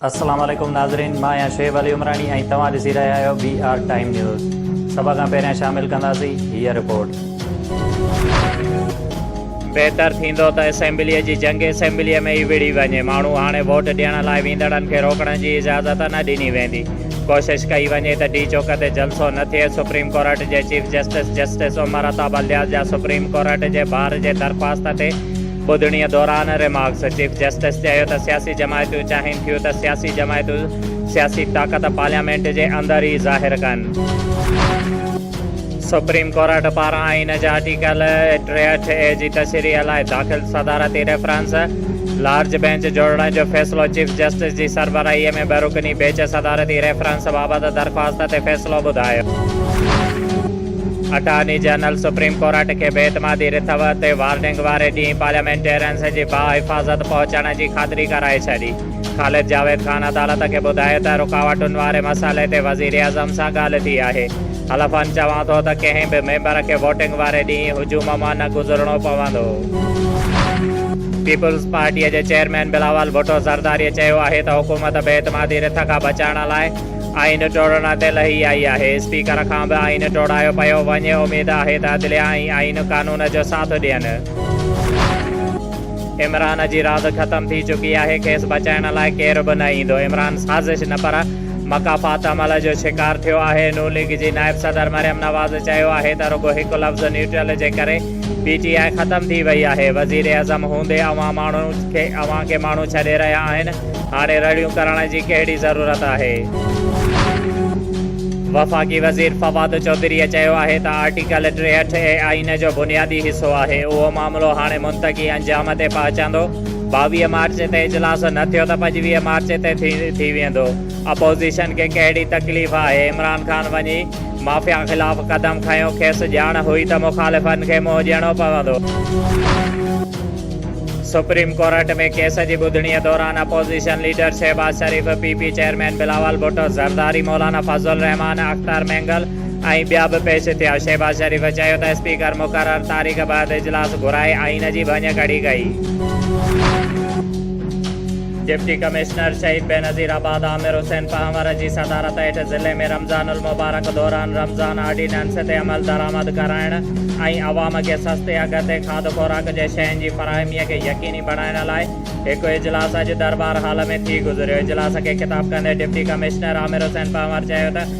السلام عليڪم ناظرين مان آهيان شعيب علي عمراڻي ۽ توهان ڏسي رهيا آهيو بي آر ٽائيم نيوز سڀ کان پهريان شامل ڪنداسين هيء رپورٽ بهتر ٿيندو ته اسيمبليء جي جنگ اسيمبليء ۾ ئي وڙهي وڃي ماڻهو هاڻي ووٽ ڏيڻ لاء ويندڙن کي روڪڻ جي اجازت نه ڏني ويندي ڪوشش ڪئي وڃي ته ڊي چوڪ تي جلسو نه ٿئي، سپريم ڪورٽ جي chief justice justice Umar Ata Bandial جا سپريم ڪورٽ جي بار جي درخواست تي ٻڌڻي دوران ريمارڪس، چيف جسٽس چيو ته سياسي جماعتون چاهين ٿيون ته سياسي جماعتون سياسي طاقت پارليامينٽ جي اندر ئي ظاهر ڪن. سپريم ڪورٽ پاران آئين جي آرٽيڪل ٽيهٺ اي جي تشريح لاء داخل صدارتي ريفرنس، لارج بينچ جوڙڻ جو فيصلو چيف جسٽس جي سربراهي ۾ ٻه رڪني بيچ صدارتي ريفرنس بابت درخواست تي فيصلو ٻڌايو. اٽارني جنرل سپريم ڪورٽ کي بي اعتمادي رٿو تي وارننگ واري ڏينهن پارليامينٽيرينز جي باحفاظت پهچڻ جي خاطري ڪرائي ڇڏي. خالد جاويد خان عدالت کي ٻڌايو ته رڪاوٽن واري مسئلي تي وزيراعظم سان ڳالهه ٿي آهي. حلفاً چوان ٿو ته ڪنهن به ميمبر کي ووٽنگ واري ڏينهن هجوم مان نه گذرڻو پوندو. پيپلز پارٽيء جي چيئرمين بلاول ڀٽو زرداريء چيو آهي ته حڪومت بي اعتمادي رٿ کان بچائڻ لاء آئين ٽوڙڻ تي لهي آئي آهي، اسپيڪر کان به آئين ٽوڙايو پيو وڃي، اميد آهي ته عدليه ۽ آئين قانون جو ساٿ ڏين. عمران جي راند ختم ٿي چڪي آهي، کيس بچائڻ لاء ڪير به نه ايندو، عمران سازش نه پر مڪافات عمل جو شڪار ٿيو آهي، نون ليگ جي نائب صدر مريم نواز چيو آهي ته رڳو هڪ لفظ نيوٽرل جي ڪري پي ٽي آء ختم ٿي وئي آهي، وزيراعظم هوندي اوهان ماڻهو کي اوهان کي ماڻهو ڇڏي رهيا آهن، هاڻي رڙيون ڪرڻ جي ڪهڙي ضرورت آهي. وفاقي وزير فواد چوڌريء چيو آهي ته آرٽيڪل ٽيهٺ اي آئين جو بنيادي حصو آهي، اهو معاملو هاڻي منطقي انجام تي پهچندو، ٻاويهه مارچ تي اجلاس نه ٿيو ته پنجويهه مارچ تي ٿي ويندو، اپوزيشن کي ڪهڙي تڪليف آهي، عمران خان وڃي مافيا خلاف قدم کنيو، کيس ڄاڻ هئي ته مخالفن کي منهن ڏيڻو پوندو. سپريم ڪورٽ ۾ ڪيس جي ٻڌڻي دوران opposition leader Shehbaz Sharif, P P chairman Bilawal Bhutto Zardari, Maulana Fazal ur Rehman, Akhtar Mengal, ۽ ٻيا به پيش ٿيا. شهباز شريف چيو ته اسپيڪر مقرر تاريخ بعد اجلاس گهرائي آئين جي ڀڃ ڪڙي ڪئي. ڊپٽي ڪمشنر شهيد بينظير آباد عامر حسين پنهور جي صدارت هيٺ ضلعي ۾ رمضان المبارڪ دوران رمضان آرڊيننس تي عملدرآمد ڪرائڻ ۽ عوام کي سستي اگهه تي کاڌ خوراڪ جي شين جي فراهمي کي يقيني بڻائڻ لاء هڪ اجلاس اڄ دربار هال ۾ ٿي گذريو. اجلاس کي خطاب ڪندي ڊپٽي ڪمشنر عامر حسين پنهور چيو ته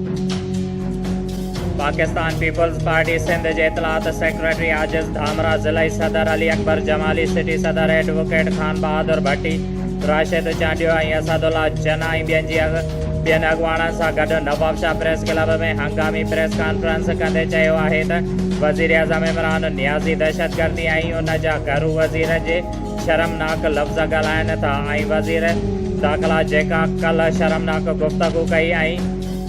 پاڪستان پيپلز پارٽي سنڌ جي اطلاعات سيڪريٽري عاجز ڌامراء، ضلعي صدر علي اڪبر جمالي، سٽي صدر ايڊووڪيٽ خان بهادر ڀٽي، راشد چانڊيو ۽ اسد الله جناح ۽ ٻين جي ٻين اڳواڻن سان گڏ نوابشاهه پريس ڪلب ۾ هنگامي پريس ڪانفرنس ڪندي چيو آهي ته وزيراعظم عمران نيازي دهشتگردي ۽ ان جا گهرو وزيرن جي شرمناڪ لفظ ڳالهائن ٿا ۽ وزير داخلا جيڪا ڪلهه شرمناڪ گفتگو ڪئي ۽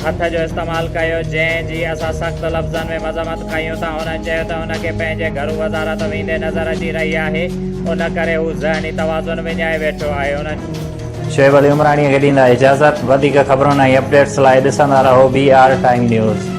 هٿ جو استعمال ڪيو جنهن جي اسان سخت لفظن ۾ مذمت ڪيون ٿا هن چيو ته هن کي پنهنجي گهرو وزارت ويندي نظر اچي رهي آهي ان ڪري هو ذهني توازن وڃائي ويٺو آهي هن شعيب علي عمراڻيء کي ڏيندا اجازت. وڌيڪ خبرن ۽ اپڊيٽس لاء ڏسندا رهو بي آر ٽائيم نيوز.